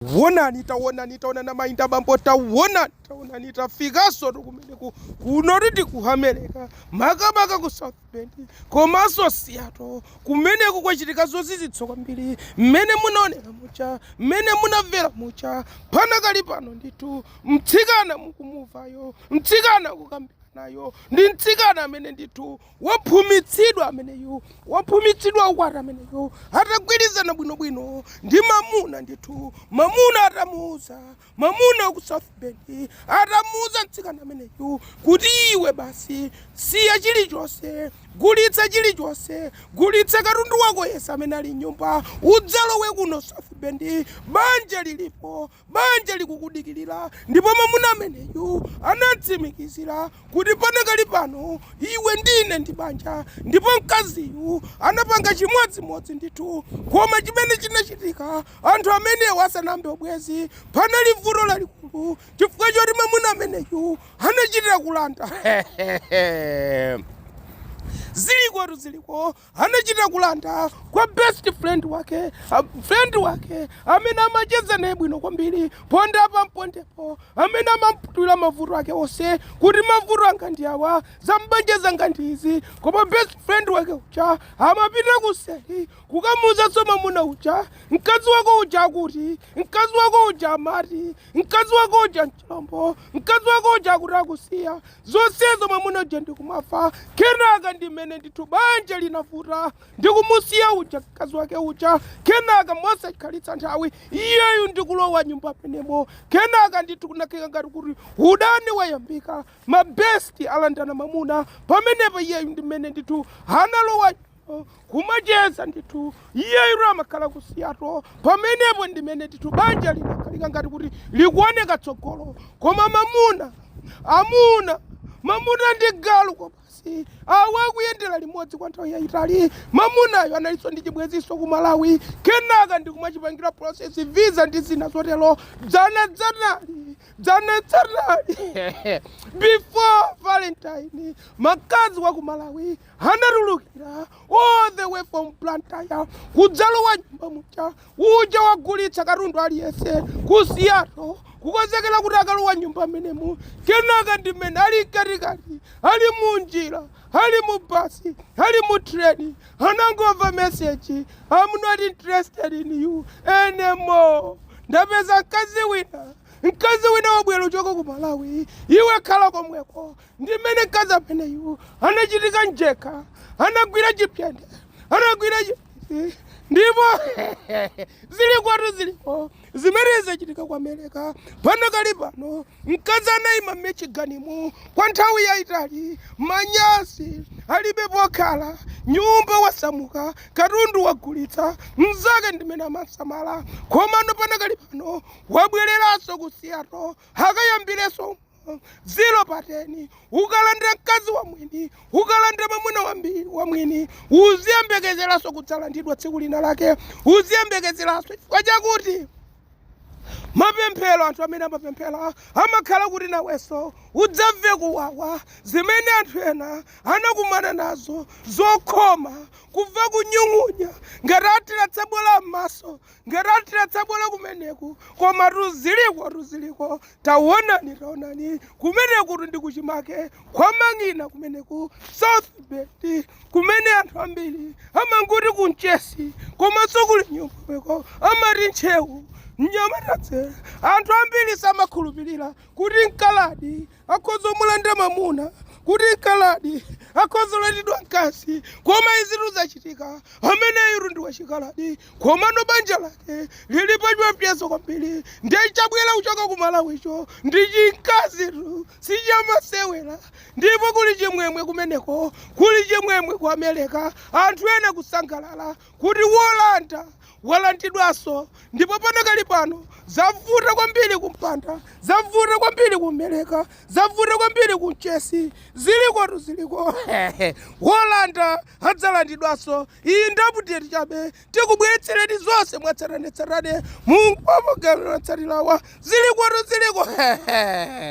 Taonani, taonani, taonani amayi ndi abambo, taonani, taonani, tafikanso kumeneku kunotitu ku America, makamaka ku South Bend komanso Seattle. Kumeneko kwachitika zozizwitsa kwambiri, mmene munaonera muja, mmene munamvera muja. Panakali pano ndithu, mtsikana mukumumvayo, mtsikana tikukambiranayo ndi mtsikana amene ndithu waphumitsidwa ameneyu waphumitsidwa ukwati ameneyu atagwirizana bwinobwino ndi mamuna ndithu mamuna atamuuza mamuna wa ku south bend atamuuza mtsikana ameneyu kuti iwe basi siya chilichonse gulitsa chilichonse gulitsa katundu wako yese amene ali m'nyumba udzalowe kuno south bend banja lilipo Banja likukudikirira, ndipo mamuna ameneyu anatsimikizira kuti panakali pano iwe ndi ine ndi banja. Ndipo mkaziyu anapanga chimodzimodzi ndithu. Koma chimene chinachitika, anthu amenewa asanayambe ubwezi, panali vuto lalikulu chifukwa choti mamuna ameneyu anachita kulanda. Zilikotu ziliko, anachita kulanda kwa best friend wake a- friend wake amene amacheza naye bwino kwambiri ponda apa mpondepo amene amamutulira mavuto ake onse kuti mavuto anga ndi awa zambanja zanga ndi izi koma best friend wake uja amapita kuseri kukamuuzanso mamuna uja mkazi wako uja akuti mkazi wako uja amati mkazi wako uja mchilombo mkazi wako uja akuti akusiya zonsezo mwamuna uja ndikumamva kenaka ndimene ndithu banja linavuta ndikumusiya uja mkazi wake uja kenaka mosakhalitsa nthawi iyeyu ndikulowa m'nyumba mmenemo kenaka ndithu kunakhala ngati kuti udani wayambika mabesti alandana mamuna pamenepo iyeyu ndimene ndithu analowa kumacheza ndithu iyeyo amakhala ku Seattle pamenepo ndimene ndithu banja linakhala ngati kuti likuoneka tsogolo koma mamuna amuna mamuna ndi galu kwabasi awa akuyendera limodzi kwa nthawi yayitali mamunayo analinso ndi chibweziso ku malawi kenaka ndikumachipangira process visa ndi zina zotero dzana dzanali dzana dzanali before valentine mkazi wa ku malawi anatulukira all the way from Blantyre kudzalowa m'nyumba muja uja wagulitsa katundu aliyense ku Seattle kukonzekera kuti akalowa m'nyumba mmenemu kenaka ndimene ali mkatikati ali munjira ali mu basi ali mu treni anangomva meseji I'm not interested in you anymore ndapeza mkazi wina mkazi wina wabwera kuchoka ku malawi iwe khala komweko ndi mmene mkazi ameneyu anachitika mjekha anagwira chipyende anagwira chipyende ndipo zilikotu ziliko zimene zachitika ku amerika panakali pano mkazi anayima m'michiganimu kwa nthawi yayitali manyasi alibe pokhala nyumba wasamuka katundu wagulitsa mzake ndimene amasamala komano panakali pano wabwereranso ku seattle akayambireso ziro pa teni ukalandira mkazi wa mwini ukalandira mwamuna wambi- wa mwini uziyembekezeranso kudzalandidwa tsiku lina lake uziyembekezeranso chifukwa chakuti mapemphero anthu amene amapemphera amakhala kuti nawenso udzamve kuwawa zimene anthu ena anakumana nazo zokhoma kumva kunyung'unya ngati athira tsabola m'maso ngati athira tsabola kumeneku komatu zilikotu ziliko taonani taonani kumeneku ndi kuchimake kwa mang'ina kumeneku south bend kumene anthu ambiri amangoti ku mchesi komanso kuli nyumbako amati ntcheu mnyamatatse anthu ambiri samakhulupirira kuti mkaladi akhoza kumulanda mwamuna kuti mkaladi akhoza kulandidwa mkazi koma izitu zachitika ameneyitu ndi wachikaladi komano banja lake lili pachiwopsezo kwambiri ndiye chabwera kuchoka ku malawicho ndi chimkazitu sichamasewera ndipo kuli chimwemwe kumeneko kuli chimwemwe ku amerika anthu ena kusangalala kuti wolanda walandidwanso ndipo panakali pano zavuta kwambiri kumpanda zavuta kwambiri ku amerika zavuta kwambiri ku mchesi zilikotu ziliko wolanda adzalandidwanso iyi ndi update chabe tikubweretsereni zonse mwatsatanetsatane mu magawo otsatirawa zilikotu ziliko